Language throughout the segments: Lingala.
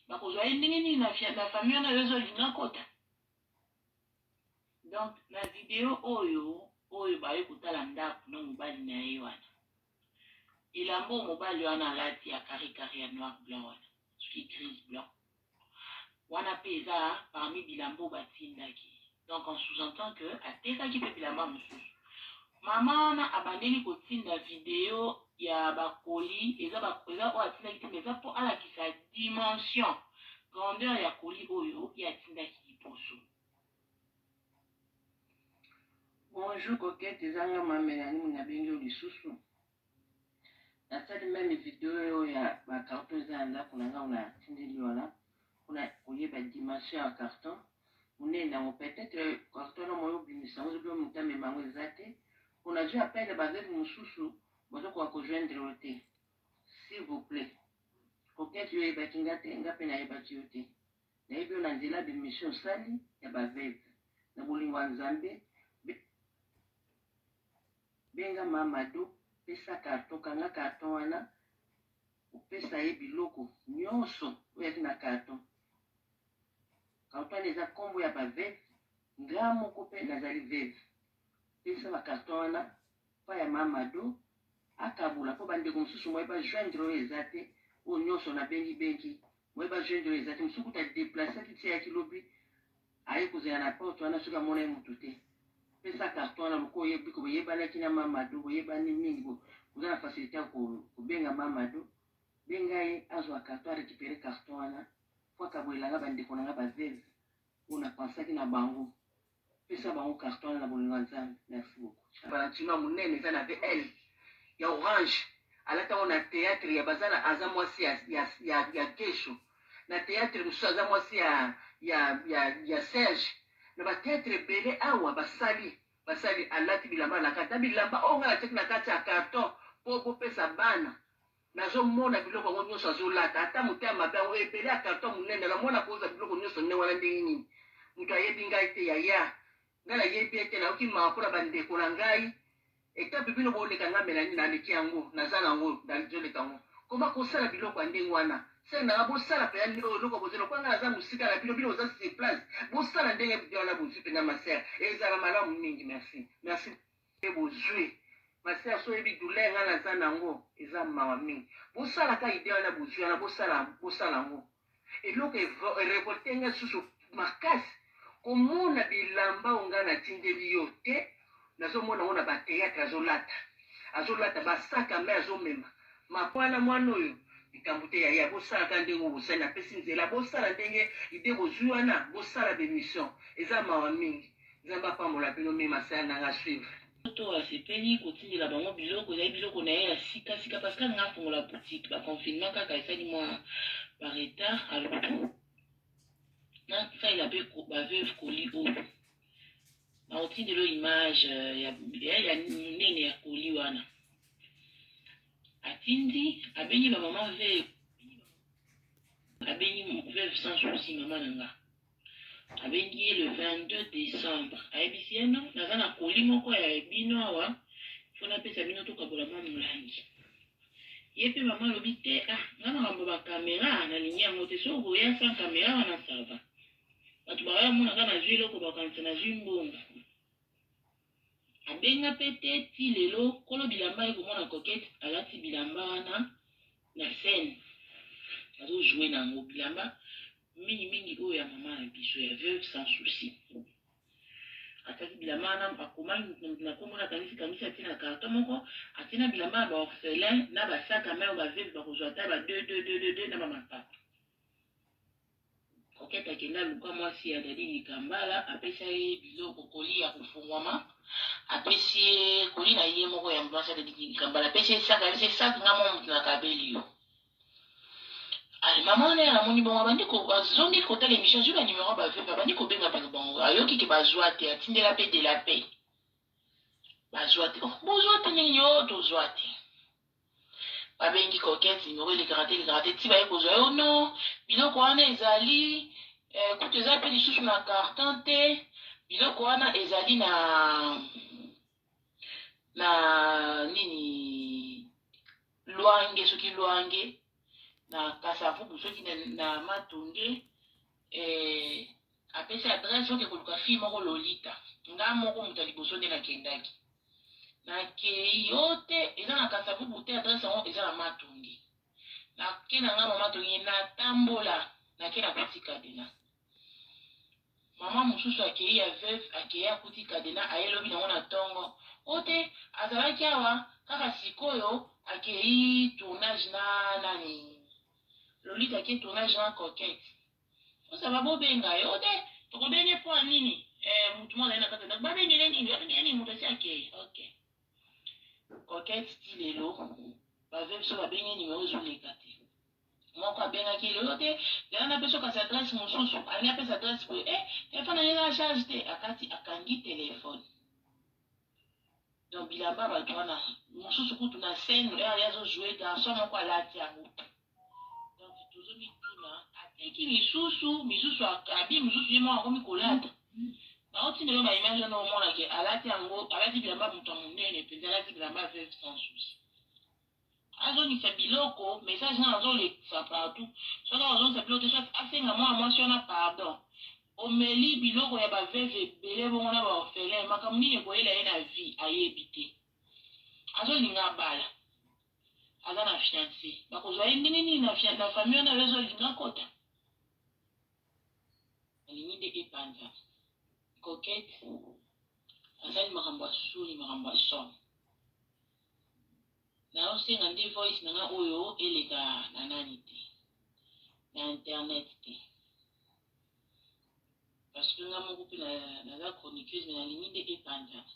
bakozwa ye ndenge nini na fia- na famille wana yo ozolinga akota donc na video oyo oyo baye kotala ndako na mobali na ye wana elambo oyo mobali wana alati ya karikari ya noir blanc wana soki grise blanc Wana pe eza parmi bilamba oyo batindaki. Donc en sous-entend que atekaki pe bilamba mosusu. Mama wana abandeli kotinda video ya ba colis, eza ba eza oyo atindaki te mais eza po alakisa dimension, grandeur ya colis oyo ye atindaki liboso. Bonjour coquette eza nga ma Melanie nabengi yo lisusu. Nasali meme video ya ba carton eza na ndako na ngai na tindeli wana kuna koyeba dimension ya carton munene nango peut-être carton na moyo obimisa yango zobi moto amema yango eza te mpo nazwi appel ya baveve mosusu bazokoka kojoindre yo te s'il vous plaît kokete yo oyebaki nga te nga mpe nayebaki yo te nayebi yo na nzela bimission osali ya baveve na bolingo ya nzambe Benga Mamadou, pesa carton, kanga carton wana, opesa ye biloko nionso oyo ezalaki na carton. Carton wana eza kombo ya ba veuves, nga moko pe nazali veuve. Pesa ba carton wana epai ya Mamadou, akabola po ba ndeko mosusu moyen ba joindre yo eza te, oyo nionso na bengi bengi, moyen ba joindre yo eza te, mosusu kutu a deplacer ki ti ayaki lobi. Aye kozela na porte wana soki amonaki mutu te. Pesa carton wana lokola oyebi biko boyebanaki na ma Mado boyebani mingi bo boza na facilite ya ko kobenga ma Mado. Benga ye azua carton a recuperer carton wana po akabolela nga ba ndeko na nga ba veuve oyo na pensaki na bango. Pesa bango carton wana na bolingo ya Nzambe. Merci beaucoup. Valentino ya munene eza na BL ya orange alata yango na theatre ya baza na aza mwasi ya ya ya, ya guesho na theatre mosusu aza mwasi ya ya ya, ya Serge na ba theatre ebele awa basali basali alati bilamba na kati na bilamba oyo ngai natiaki na kati ya carton po bopesa bana nazomona biloko yango nyonso azolata ata moto ya mabe yango ebele ya carton monene namona koza biloko nyonso nde wana ndenge nini moto ayebi ngai te yaya Nga na yebi ete na yoki mawa pona ba ndeko na ngai etape bino bo leka nga Melanie na leki yango na za na ngo na zo leka ngo koma ko sala biloko ya ndenge wana sœur na nga bo sala pena oyo eloko bozo lokola nga na za musika na bino bino bo za sur place bo sala ndenge wana bozui pena ma sœur ezala malamu mingi merci merci pe bozui ma sœur soki oyebi douleur nga naza nango eza mawa mingi bosala ka idee wana bozui wana bosala bosala yango eloko e revolte nga lisusu makasi komona bilamba oyo nga natindeli yo te nazomona yango na ba theatre azolata azolata ba sac à main azomema ma wana mwana oyo likambo te yaya bosala ka ndenge oyo bosali napesi nzela bosala ndenge idee bozui wana bosala ba emission eza mawa mingi Nzambe apambola bino mi ma sœur nanga suivre. Poto asepeli kotindela bango biloko ezali biloko na ye ya sika sika parce que alinga afongola boutique ba confinement kaka esali mwa ba retard aluki nasalela mpe ba veuve koli oyo nakotindela oyo image euh, ya, ya, ya monene ya koli wana atindi abengi bamama veuve abengi veuve sans souci mama na nga Abengi ye le 22 decembre ayebisi ye non naza na colis moko ya bino awa faut napesa bino tokabola mwa molangi. Ye mpe mama alobi te ah nga makambo ya ba camera nalingi yango te soki okoya sans camera wana ça va. Bato baoya bamona nga nazwi eloko bakokanisa nazwi mbongo. Abenga pe te ti lelo kolo bilamba aye komona coquette alati bilamba wana na scène azo joue na ngo bilamba mingi mingi oyo ya maman na biso ya veuve sans souci ataki bilamba wana akoma na kombo na kanisi kanisi atie na carton moko atie na bilamba ya ba orphelin na ba sac à main oyo ba veuve bakozwa ata ba deux deux deux deux deux na ba mapapa Coquette akenda aluka mwasi ya Daddy Dikambala apesa ye biloko colis ya kofungwama apesi ye colis na ye moko ya mwasi ya Daddy Dikambala apesi ye sac apesi ye sac nga mwa moto na kabeli yo mama wana ya namoni bongo abandi azongi kotala emission azwi ba numero ya ba veuve abandi kobenga bino bango ayoki ke bazwa te atindela pe de la paix bazwa te oh bozwa te nini yo tozwa te Babengi coquette numero elekaka te elekaka te ti baye kozwa yo non biloko wana ezali eh, kutu eza pe lisusu na carton te biloko wana ezali na na nini lwange soki lwange na kasavubu soki na, na matonge Eh apesi adresse oke koluka fille moko Lolita nga moko moto ya liboso nde nakendaki nakei yo te eza na kasavubu te adresse yango eza na matonge nake na nga mama tonge natambola nake nakuti kadena mama mosusu akei ya veuve akei akuti kadena aye lobi nango na tongo o te azalaki awa kaka sikoyo akei tournage na nani Lolita ki tournage wana coquette oza ba bo benga ye ote toko benga ye pona nini eh mutu moko azali na kati ya ndaku ba benga ye nini ba benga ye nini mutu asi akeyi ok coquette ti lelo ba vue biso ba bengi ye numero ezo leka te moko abengaki ye lelo te lelo na peso kasi adresse mususu alingi apesa adresse boye eh telephone na ye eza na charge te akati akangi telephone Donc bilamba batu wana mususu kutu na scène heure ye azo jouer garçon moko alati yango te donc tozo mituna ateki misusu misusu abi misusu ye moko akomi kolata naotinda yo ba image wana omona ke alati yango alati bilamba moto ya monene mpenza alati bilamba veuve sans souci Azongisa biloko message nanu azo lekisa partout soki ako zongisa biloko te soit asenga mwana mwasi wana pardon omeli biloko ya ba veuve ebele bongo na ba orphelin makambo nini ekoyela ye na vie ayebi te azo linga abala aza na fiance bako zwa ye ndenge nini na fiance na famille wana azo linga kota alingi nde epanza coquette asali makambo ya soni makambo ya somo Nazo senga nde voice na nga oyo eleka na nani te. Na internet te. Parce que nga moko pe na, naza chroniqueuse mais nalingi nde epanzana.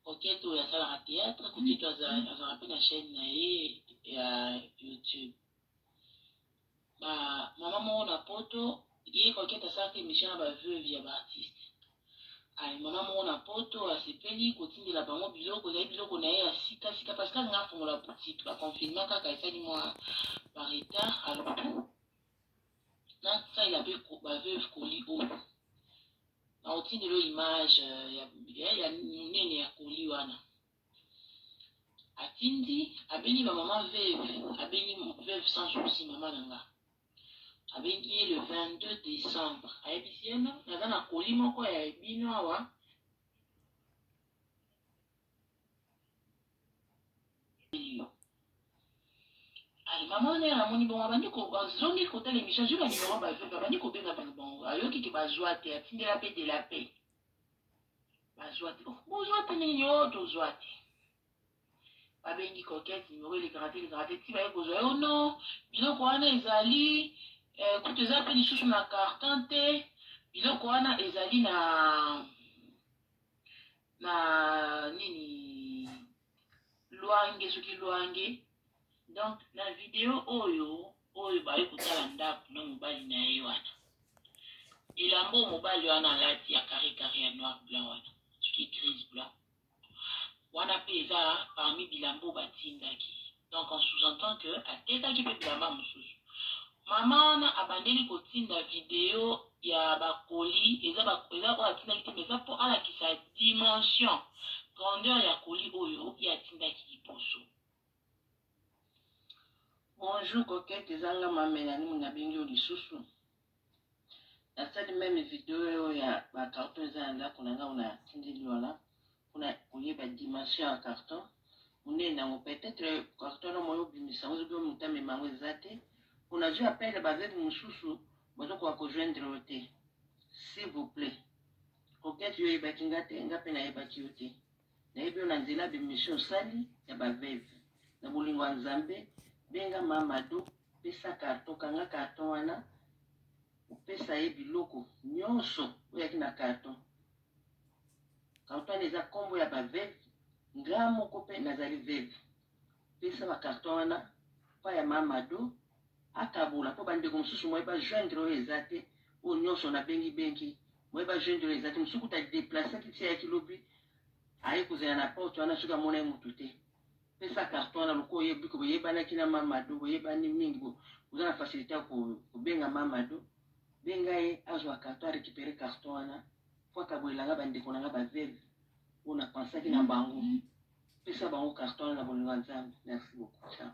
Coquette oyo asalaka théâtre, Coquette aza- azalaka pe na chaîne na ye ya YouTube. Ba maman moko na poto ye coquette asalaka emission na ba veuve ya ba artistes ayi maman moko na poto asepeli kotindela bango biloko ezali biloko na ye ya sika sika parce que alinga afongola boutique ba confinement kaka esali mwa ba retard alobi na salela pe ba veuve koli oyo na otindelo image ya ya nene ya koli wana Atindi abengi ba maman veuve abengi veuve sans souci maman na nga abengi ye le 22 decembre ayebisi ye no naza na colis moko ya bino awa maman wana ya namoni bongo abandi azongi kotala emission azwi banimero ba veuve abandi kobenga bango ayoki ke bazwa te atindela mpe de la paix bazwa te oh, bozwa te nini yo oh, tozwa te babengi coquette numero elekaka te elekaka te ti baye kozwa yo no biloko wana ezali eh, kutu eza mpe lisusu na carton te biloko wana ezali na na nini Luange soki luange donc na video oyo oyo baye kotala ndako na mobali na ye wana elamba oyo mobali wana alati ya carre carre ya noir blanc wana soki grise blanc wana mpe eza parmi bilamba oyo batindaki Donc en sous-entend que atekaki pe bilamba mususu. Maman wana abandeli kotinda video ya ba colis, eza ba eza oyo atindaki te mais eza po alakisa dimension, grandeur ya colis oyo ye atindaki liboso. Bonjour coquette eza nga ma Melanie mutu nabengi yo lisusu. na sali meme video ya ba carton eza na ndako na ngai na tindi liona pona koyeba dimension ya carton munene nango peut-être carton na moyo obimisa yango soki moto amema yango eza te pona azwi appel ba veuve mosusu bazokoka kojoindre yo te s'il vous plaît coquette yo oyebaki nga te nga mpe nayebaki yo te Nayebi yo na nzela ya b'emission osali ya ba veuve. Na bolingo ya Nzambe, benga Ma Mado, pesa carton, kanga carton wana, opesa ye biloko nionso oyo eyaki na carton. Carton wana eza kombo ya ba veuve, nga moko pe nazali veuve. Pesa ba carton wana epai ya ma Mado akabola po ba ndeko mosusu moyen ba joindre yo eza te oyo nionso na bengi bengi moyen ba joindre yo eza te mosusu kutu a deplacer ki ti ayaki lobi aye kozela na porte wana soki amona ye mutu te pesa carton wana lokola oye biko boyebanaki na ma Mado boyebani mingi bo oza na facilite ya ko kobenga ma Mado benga ye azua carton a recuperer carton wana Mpo akabolela nga ba ndeko na nga ba veuves oyo na pensaki na bango. Pesa bango carton wana na bolingo ya Nzambe. Merci beaucoup. Ciao.